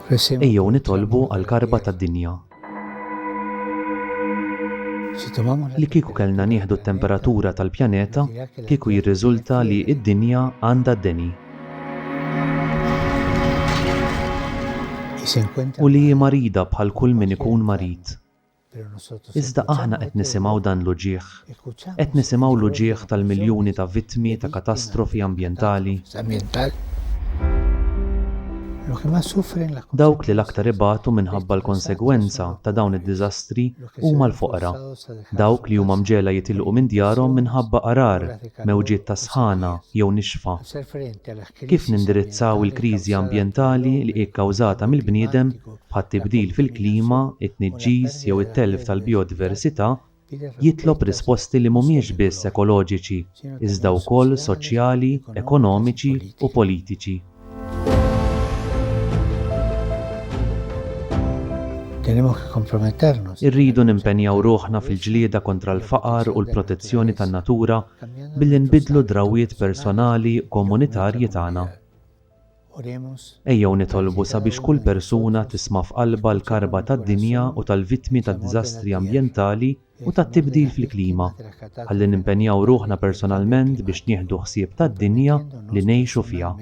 Ejjew nitolbu għall-karba tad-dinja. Li kieku kellna nieħdu t-temperatura tal-pjaneta, kieku jirriżulta li d-dinja għandha d-deni. u li hi marida bħal kull min ikun marid. Iżda aħna qed nisimgħu dan l-uġigħ. Qed nisimgħu l-uġigħ tal-miljuni ta' vittmi ta' katastrofi ambjentali. Dawk li l-aktar ibatu minħabba l-konsegwenza ta' dawn id-diżastri huma l-foqra, dawk li huma mġegħla jitilqu minn djarhom minħabba għarar, mewġiet ta' sħana jew nixfa. Kif nindirizzaw il-kriżi ambjentali li hi kkawżata mill-bniedem, bħat-tibdil fil-klima, it-tniġġis jew it-telf tal-bijodiversità, jitlob risposti li mhumiex biss ekoloġiċi iżda wkoll soċjali, ekonomiċi u politiċi. Irridu nimpenjaw ruħna fil-ġlieda kontra l-faqar u l-protezzjoni tan-natura billi nbiddlu d-drawwiet personali u komunitarji tagħna. Ejjew nitolbu sabiex kull persuna tisma' f'qalbha l-karba tad-dinja u tal-vittmi tad-diżastri ambjentali u tat-tibdil fil-klima, ħalli nimpenjaw ruħna personalment biex nieħdu ħsieb tad-dinja li ngħixu fiha.